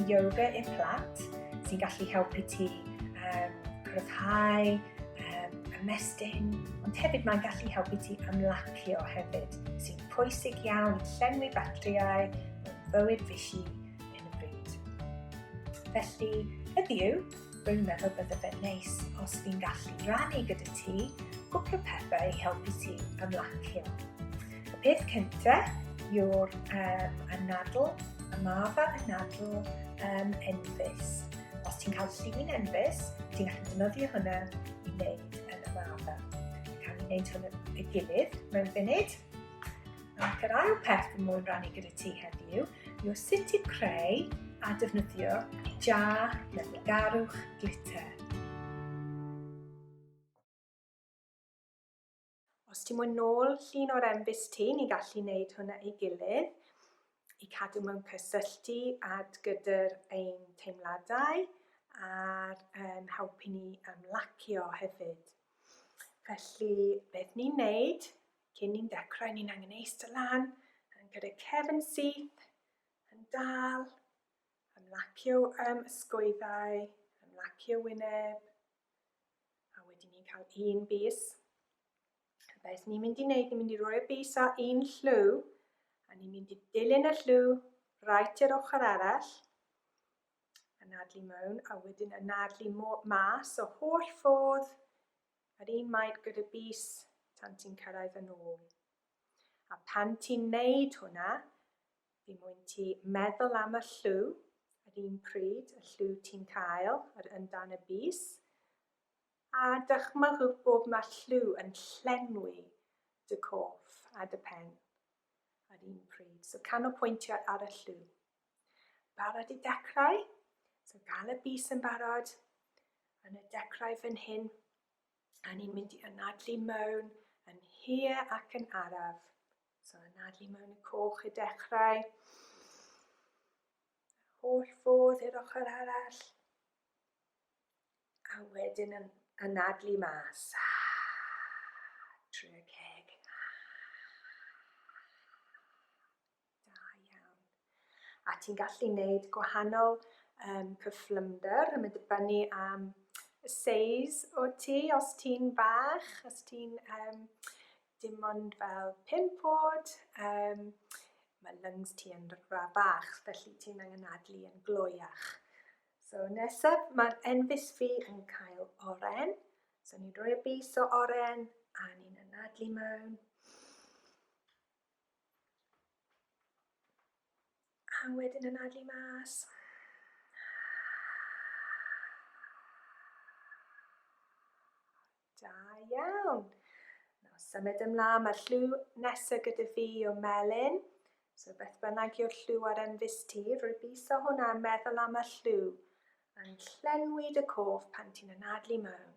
yoga i'r plant sy'n gallu helpu ti um, cryfhau, um, ymestyn, ond hefyd mae'n gallu helpu ti ymlacio hefyd, sy'n pwysig iawn i llenwi batteriau, bywyd fisi hyn y bryd. Felly, heddiw, rwy'n meddwl bydde fe'n neis os fi'n gallu rannu gyda ti gwpl o pethau i helpu ti ymlacio. Y peth cyntaf yw'r um, anadl, y maf a anadl um, enfys. Os ti'n cael llun enfys, ti'n gallu defnyddio hwnna i wneud yn y maf. Cael ei wneud hwn y gilydd mewn funud. Ac yr ail peth fy moyn rannu gyda ti heddiw yw sut i creu a defnyddio jar garwch glitter. Os ti'n moyn nôl llun o'r embys ti, ni'n gallu wneud hwnna ei gilydd i cadw mewn cysylltu ad gyda'r ein teimladau a'r um, helpu ni ymlacio hefyd. Felly, beth ni'n neud Cyn ni'n dechrau, ni'n angen eistedd lan, yn gyda cefn syth, yn dal, ymlacio um, ysgwyddau, ymlacio wyneb, a wedyn ni'n cael un bus. Beth ni'n mynd i wneud, ni'n mynd i roi'r bus ar un llw, a ni'n mynd i dilyn y llw rhaid i'r ochr arall, anadlu mewn, a wedyn anadlu mas o holl ffordd Yr un maint gyda bys tan ti'n cyrraedd yn ôl. A pan ti'n neud hwnna, fi mwyn ti meddwl am y llw, yr un pryd y llw ti'n cael, yr yndan y bys, a dychmygwch bod mae llw yn llenwi dy coff a dy pen, yr un pryd. So canolpwyntio ar y llw. Barod i dechrau? So gan y bys yn barod, yn y dechrau fan hyn, a ni'n mynd i anadlu mewn yn hir ac yn araf. So anadlu mewn y coch i dechrau. Holl ffordd i'r ochr arall. A wedyn yn anadlu mas. Trwy y ceg. Da iawn. A ti'n gallu neud gwahanol um, cyflymder yn mynd dibynnu am y seis o ti, os ti'n bach, os ti'n um, dim ond fel pimp bod, um, mae lungs ti yn ra bach, felly ti'n angen adlu yn gloiach. So nesaf, mae enfus fi yn cael oren, so ni'n rhoi y bus o oren, a ni'n anadlu mewn. A wedyn anadlu mas. Da iawn. Nawr symud ymlaen, mae'r llw nesaf gyda fi o melyn. So beth bynnag yw'r llw ar enfus ti, rwy'n biso hwnna yn meddwl am y llw. Yn llenwi dy cof pan ti'n anadlu mewn.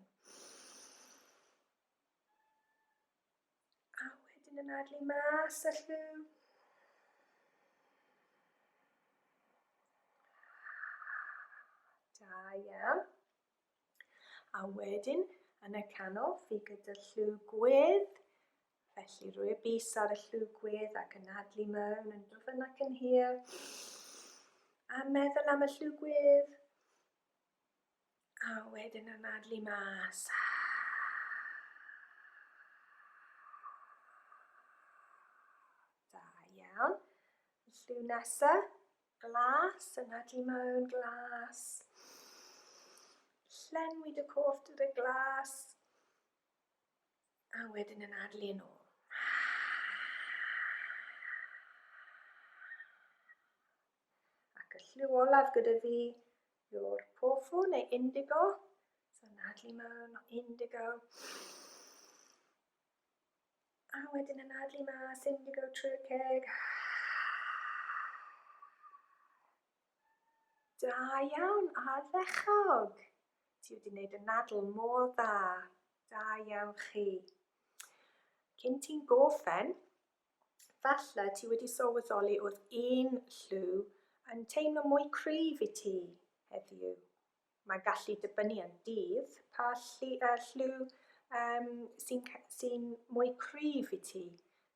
A wedyn ymadael i mas a lliw. Da iawn. A wedyn, yn y canol, fi gyda lliw gwedd. Felly rwy'r bus ar y lliw gwedd ac yn adlu mewn yn dwfn ac yn hir. A meddwl am y lliw gwedd. A wedyn anadlu mas. Da iawn. Lliw nesa, glas, anadlu mewn, glas. Llenwi dy cof dy glas. A wedyn anadlu yn ôl. Ac y lliw olaf gyda fi yw'r pofu neu indigo. So nadlu mewn o indigo. A wedyn y nadlu mas, indigo trwy'r ceg. Da iawn, ardderchog. Ti wedi gwneud y nadl mor dda. Da iawn chi. Cyn ti'n goffen, Falle ti wedi sylweddoli oedd un lliw yn teimlo mwy cryf i ti heddiw. Mae'n gallu dibynnu ar dydd pa lli, uh, lliw um, sy'n sy mwy cryf i ti.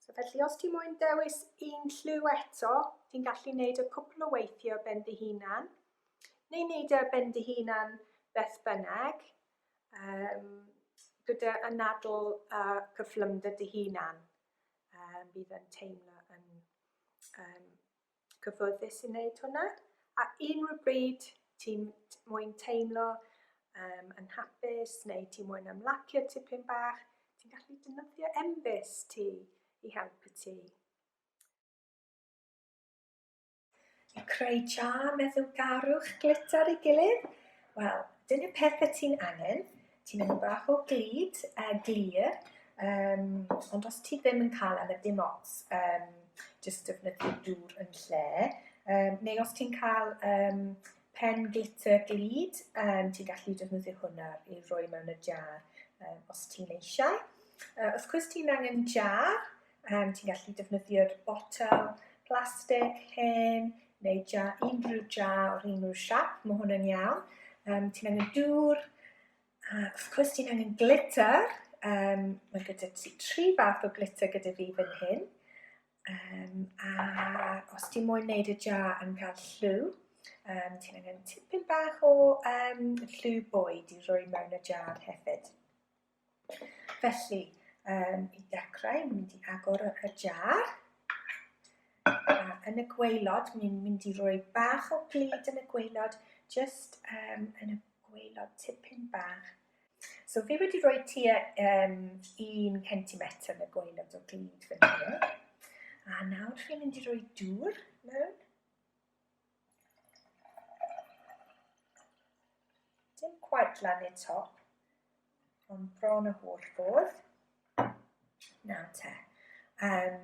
So felly os ti moyn dewis un lliw eto, ti'n gallu gwneud y cwpl o weithiau ben dy hunan, neu wneud y e ben dy hunan beth bynnag, um, gyda anadl a cyflymder dy hunan. um, bydd yn teimlo yn um, cyfforddus i wneud hwnna. A unrhyw bryd ti'n mwyn teimlo um, yn hapus neu ti'n mwyn ymlacio tipyn bach, ti'n gallu dynyddio embus ti i helpu ti. I creu jar meddwlgarwch glitter i gilydd, wel, dyn y peth y ti'n angen, ti'n mynd bach o glid, uh, glir, um, ond os ti ddim yn cael am y dim ots, um, jyst defnyddio dŵr yn lle, um, neu os ti'n cael um, pen glitter glid, um, ti'n gallu defnyddio hwnna i roi mewn y jar um, os ti'n eisiau. Uh, os cwrs ti'n angen jar, Yym, ti'n gallu defnyddio'r botel plastig hen neu ja, unrhyw ja o'r unrhyw siap, mae hwn yn iawn. Um, ti'n angen dŵr, a wrth gwrs ti'n angen glitter. Um, mae gyda ti tri fath o glitter gyda fi fan hyn. Um, a os ti'n moyn wneud y ja yn cael llw, um, ti'n angen tipyn bach o um, llw bwyd i roi mewn y jar hefyd. Felly, um, i dechrau, mynd i agor y jar. A yn y gweilod, ni'n mynd i roi bach o glid yn y gweilod, just um, yn y gweilod tipyn bach. So fi wedi rhoi tua um, un centimetr yn y gweilod o glid fan hyn. A nawr fi'n mynd i roi dŵr mewn. Dim quite lan i'r top, ond bron y holl ffordd. Na te. Um,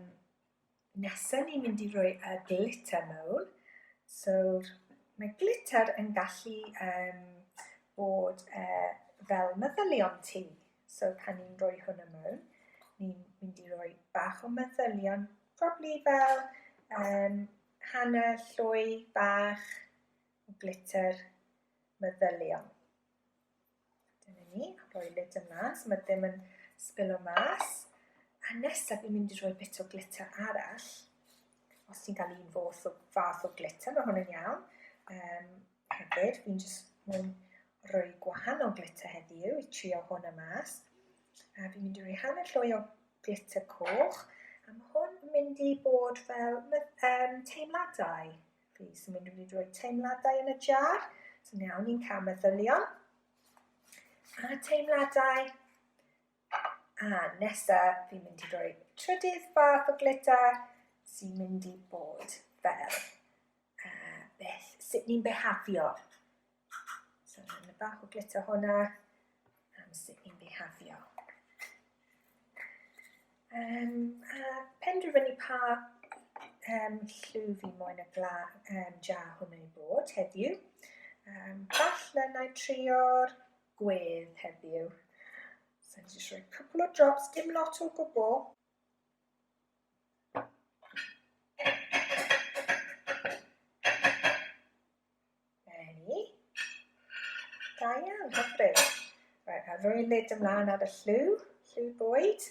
nesa ni'n mynd i roi y glitter mewn. So, mae glitter yn gallu um, bod uh, fel meddylion ti. So, pan ni'n rhoi hwnna mewn, ni'n mynd i roi bach o meddylion, probably fel um, Hanner llwy bach o glitter meddyliol. Dyna ni, rhoi lid yn mas, mae ddim yn sbilo mas. A nesaf fi'n mynd i rhoi bit o glitter arall. Os ti'n cael un fath o, fath o glitter, mae hwn yn iawn. Um, Hefyd, fi'n jyst mynd rhoi gwahanol glitter heddiw i trio hwn y mas. A fi'n mynd i roi hanner llwy o glitter coch. A mae hwn yn mynd i bod fel um, teimladau. Fi sy'n mynd i roi teimladau yn y jar. So iawn, ni'n cael meddylion. A teimladau A nesa fi'n mynd i roi trydydd fath o glita sy'n mynd i bod fel uh, beth, sut ni'n behafio. So, yn y bach o glita hwnna am sut ni'n behafio. Um, a penderfynu pa um, llw fi moyn y gla, um, jar hwnnw i bod heddiw. Um, falle na i trio'r gwedd heddiw. So ni'n just rhoi cwpl o drops, dim lot o gwbl. Da iawn, hyfryd. Right, a rhoi lid ymlaen ar y llw, llw bwyd.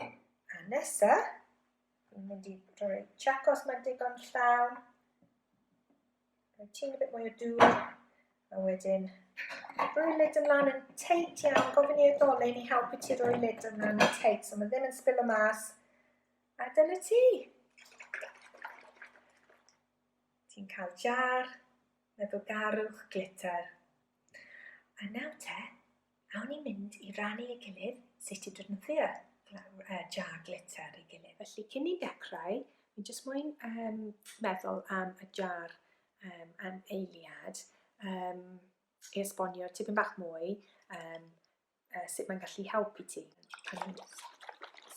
A nesa, ni'n mynd i rhoi chacos mae'n digon llawn. Rhoi tîn a bit mwy o dŵr. A wedyn, rhoi lid ymlaen yn teit iawn. Gofyn i addolyn i helpu ti rhoi lid ymlaen yn teit. So mae ddim yn spillo mas. A dyna ti. Ti'n cael jar, meddwl garwch, glitter. A nawr te, Awn ni mynd i rannu ei gilydd sut i defnyddio jar glitter ei gilydd. Felly cyn ni'n dechrau, fi'n jyst moyn um, meddwl am y jar um, am eiliad um, i esbonio tipyn bach mwy um, uh, sut mae'n gallu helpu ti. Pan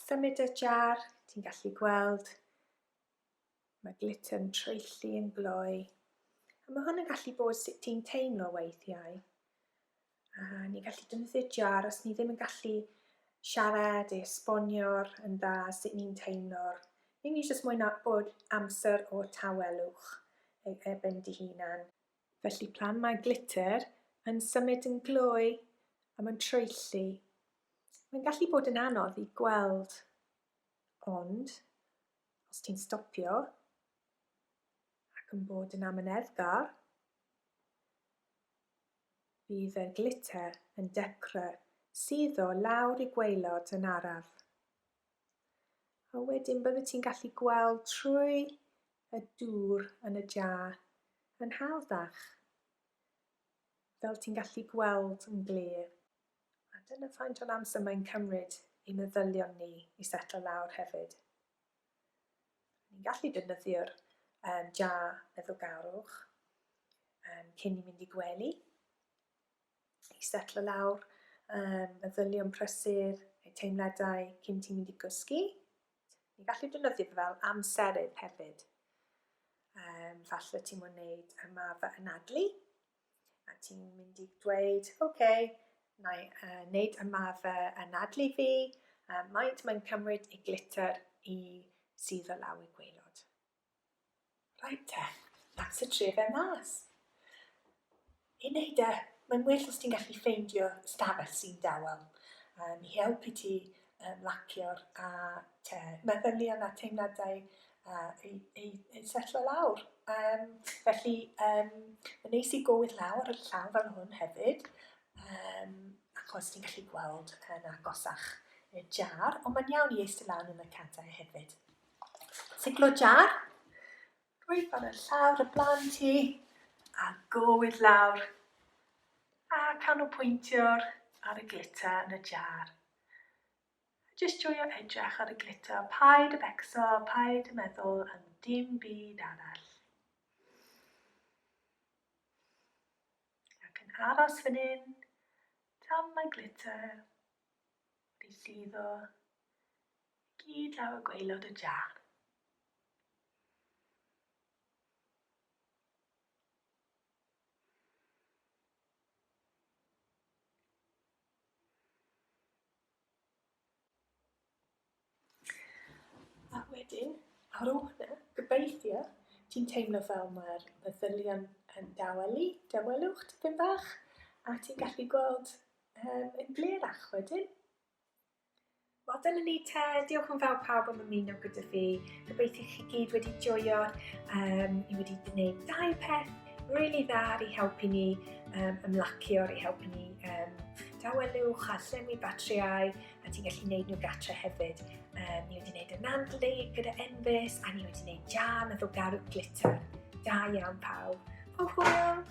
symud y jar, ti'n gallu gweld Mae glitter yn traethu yn gloi. A mae hwn yn gallu bod sut ti'n teimlo weithiau. A ni'n gallu defnyddio jar os ni ddim yn gallu siarad i esbonio'r yn dda sut ni'n teimlo'r. Ni ni jyst mwy na bod amser o tawelwch ei ebyn dy hunan. Felly plan mae glitter yn symud yn gloi a mae'n traethu. Mae'n gallu bod yn anodd i gweld ond Os ti'n stopio ac yn bod yn amyneddgar, bydd y glitter yn dechrau suddo lawr i gwaelod yn araf. A wedyn byddet ti'n gallu gweld trwy y dŵr yn y jar yn hawddach, fel ti'n gallu gweld yn glir. A dyna faint o'n amser mae'n cymryd i meddylion ni i setlo lawr hefyd. Ni'n gallu defnyddio'r um, ja meddwlgarwch um, cyn ni mynd i gwely, i setlo lawr, um, meddylion prysur, eu teimladau cyn ti'n mynd i gysgu. Ni'n gallu defnyddio fe fel amserydd hefyd. Um, falle ti'n mwyn wneud ymarfer anadlu, A ti'n mynd i dweud, oce, okay, na i uh, wneud ymarfer anadlu fi, uh, maent mae'n cymryd i glitter i sydd o law i gweilod. Right te, that's y tre fe mas. I wneud e, mae'n well os ti'n gallu ffeindio stafell sy'n dawel. Um, I helpu ti uh, lacio'r a te, meddylion a teimladau uh, i, i, i setlo lawr. Um, felly, um, yn neis i gywir lawr y llaw fel hwn hefyd, um, achos ti'n gallu gweld yn agosach y jar, ond mae'n iawn i eistedd lawr yn y cadau hefyd. Siglo jar, rwy'n fan y llawr y blaen ti, a gywir lawr, a canolpwyntio'r ar y glitter yn y jar. Jyst joio edrych ar y glitter, paid y becso, paid y meddwl am dim byd arall. Ac yn aros fan hyn, tan mae glitter wedi lliddo gyd lawr y gweilod y jar. A wedyn, ar ôl hwnna, gobeithio, ti'n teimlo fel mae'r meddylion yn dawelu, dawelwch tipyn bach, a ti'n gallu gweld yn glerach wedyn. Wel dyna ni te, diolch yn fawr pawb am ymuno gyda fi. Gobeithio chi gyd wedi joio. Um, ni wedi gwneud dau peth really dda ar ei helpu ni um, ymlacio, ar ei helpu ni um, dawelwch a llenwi batriau a ti'n gallu gwneud nhw gatre hefyd. Um, ni wedi gwneud y nandlu gyda Enfys a ni wedi gwneud jam efo garw glitter. Da iawn pawb. Hwyl!